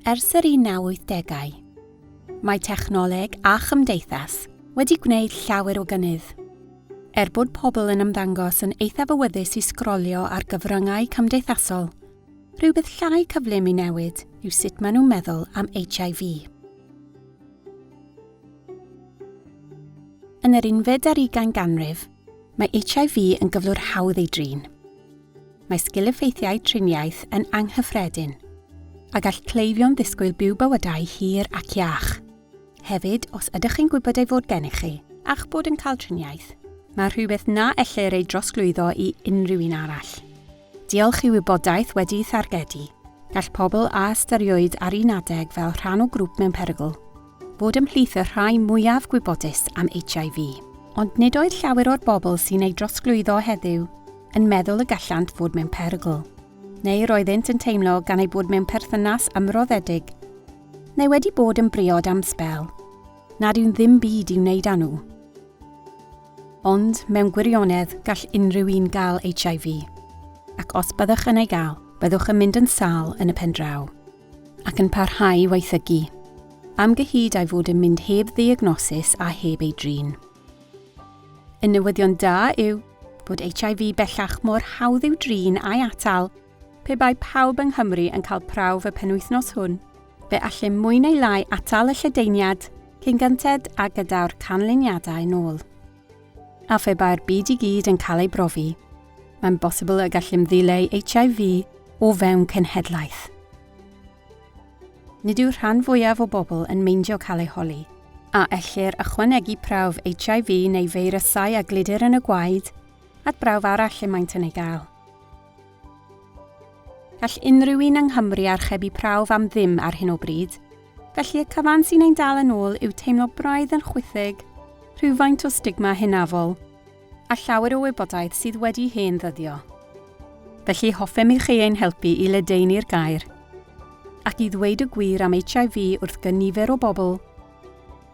Ers yr 1980au, mae technoleg a chymdeithas wedi gwneud llawer o gynnydd. Er bod pobl yn ymddangos yn eithaf awyddus i sgrolio ar gyfryngau cymdeithasol, rhywbeth llai cyflym i newid yw sut maen nhw'n meddwl am HIV. Yn yr unfed ar ugain ganrif, Mae HIV yn gyflwr hawdd ei drin. Mae sgil-effeithiau triniaeth yn anghyffredin, a gall cleifion ddisgwyl byw bywydau hir ac iach. Hefyd, os ydych chi'n gwybod ei fod gennych chi, a'ch bod yn cael triniaeth, mae rhywbeth na ellir ei drosglwyddo i unrhyw un arall. Diolch i wybodaeth wedi'i thargedu, gall pobl a ystyriwyd ar un adeg fel rhan o grŵp mewn perygl, fod ymhlith y rhai mwyaf gwybodus am HIV. Ond nid oedd llawer o'r bobl sy'n ei drosglwyddo heddiw yn meddwl y gallant fod mewn perygl, neu roeddynt yn teimlo gan eu bod mewn perthynas ymroddedig, neu wedi bod yn briod am sbel, nad yw'n ddim byd i'w wneud â nhw. Ond mewn gwirionedd gall unrhyw un gael HIV. Ac os byddwch yn ei gael, byddwch yn mynd yn sâl yn y pen draw. Ac yn parhau i waethygu. Am gyhyd a'i fod yn mynd heb ddiagnosis a heb ei drin. Y newyddion da yw bod HIV bellach mor hawdd i'w drin a'i atal Pe bai pawb yng Nghymru yn cael prawf y penwythnos hwn, fe allem mwy neu lai atal y lledaeniad cyn gynted a gydaw'r canlyniadau nôl. A phe bai'r byd i gyd yn cael ei brofi, mae'n bosibl y gallem ddileu HIV o fewn cenhedlaeth. Nid yw'r rhan fwyaf o bobl yn meindio cael ei holi. A ellir ychwanegu prawf HIV neu feirysau a gludir yn y gwaed at brawf arall y maent yn ei gael? Gall unrhyw un yng Nghymru archebu prawf am ddim ar hyn o bryd, felly y cyfan sy'n ein dal yn ôl yw teimlo braidd yn chwithig, rhywfaint o stigma hunafol, a llawer o wybodaeth sydd wedi hen ddyddio. Felly hoffem i chi ein helpu i ledaenu'r gair, ac i ddweud y gwir am HIV wrth gynifer o bobl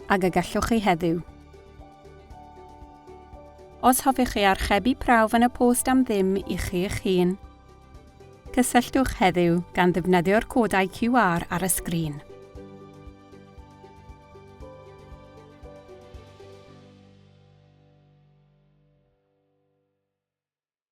ag y gallwch chi heddiw. Os hoffech chi archebu prawf yn y post am ddim i chi eich hun, cysylltwch heddiw gan ddefnyddio'r codau QR ar y sgrin.